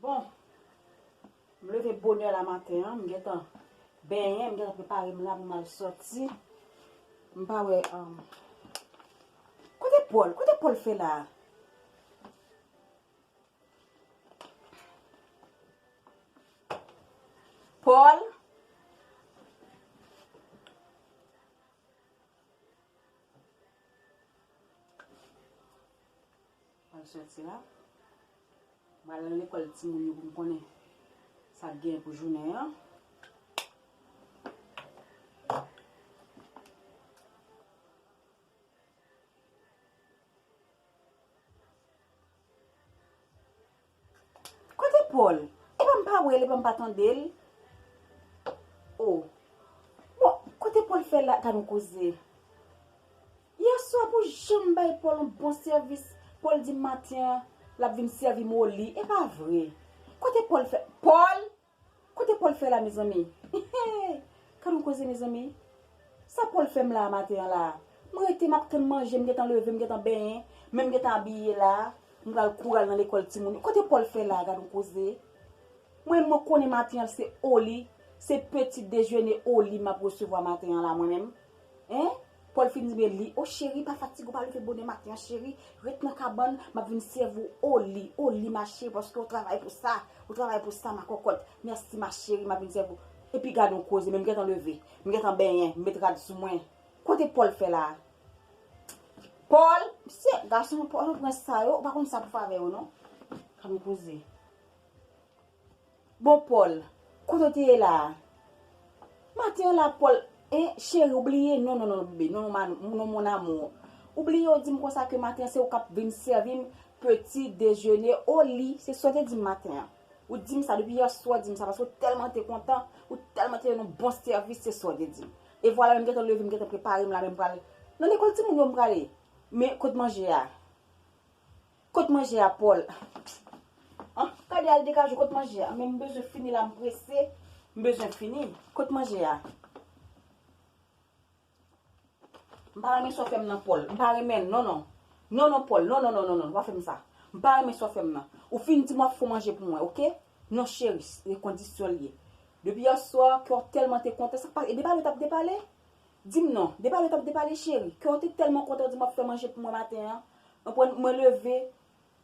Bon, m leve bonè la maten an, m gentan benyen, m gentan prepare m la pou m al soti. M pa wè, am, kote Pòl? Kote Pòl fè la a? Pòl? Mwen soti la. Mwen al nan lekòl timoun yo pou m konnen sa k gen pou jounen an. Kote Paul? Epa m pa wèl epa m pa tande l oh Bon kote Paul fè la ta nou koze Yèswa pou janm bay Paul yon bon sèvis Paul di m maten an lap vin sèvi m au lit epa vre Kote Paul fè Paul! Kote Paul fè la mezanmi eehh Gadon koze mezanmi Sa Paul fèm la maten an la M rete map tann manje m gentan leve m gentan benyen menm m gentan abiye la m pral kouri al nan lekòl timoun yo kote Paul fè la gadon koze Mwen menm mwen konnen maten an se oli se peti dejene oli map resevwa maten an la mwen menm. Hein Paul fin di men li oh cheri pa fatige ou pa leve bonè maten an cheri ret nan kabann map vin sèvi ou oh li oh li ma cheri paske ou travay pou sa ou travay pou sa ma kòkòt merci ma cheri map vin sèvi ou epi gadon koze men m gentan leve m gentan benyen m met rad sou mwen kote Paul fè la Paul mesye gason Paul pran sa yo ou pa konn sa pou fè avè yo non gadon koze. Bon Paul, kote w te ye la a? Maten an la Paul, hein, chérie ou bliye, non non non bebe, non non mon amour, ou bliye ou di m konsa ke maten an se ou k ap vin sèvi m petit déjeuner au lit, se sa w te di m maten an. Ou di m sa, depi yèswa ou di m sa paske ou tèlman te kontan, ou tèlman te yon bon sèvis, se sa w te di m. E vwala men m gentan leve, m gentan prepare m la men m pral, nan lekòl timoun yo m prale. Men kot manje a? Kot manje a Paul. An kade al dekajou kot manje a men m bezwen fini la m prese m bezwen fini kot manje a m pa renmen sa w fè m nan Paul m pa renmen l non non non non Paul non non non non non pa fè m sa m pa renmen sa w fè m nan ou fin di m w ap fon manje pou mwen ok non cherie se kondisyon l ye depi yè swa kè w tèlman te kontan sa k pase e depale w t ap depale Di m non. Depale tanp depale cheri. Kè w te tèlman kontan di m w ap fè manje pou mwen maten an. Anpwen, mwen leve,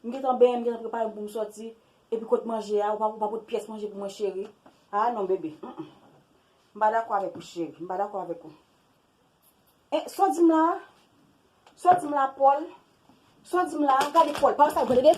m gentan benyen, m gentan prepare m pou m sòti, epi kot manje a? Ou pa pot pyès manje pou mwen cheri? Aa non bebe. Humm. M pa dakò avèk ou cheri. M pa dakò avèk ou. E, sa w di m la a? Sa w di m la a, Pòl? Sa w di m la a? Gade Pòl, pa wè sa l pran tande!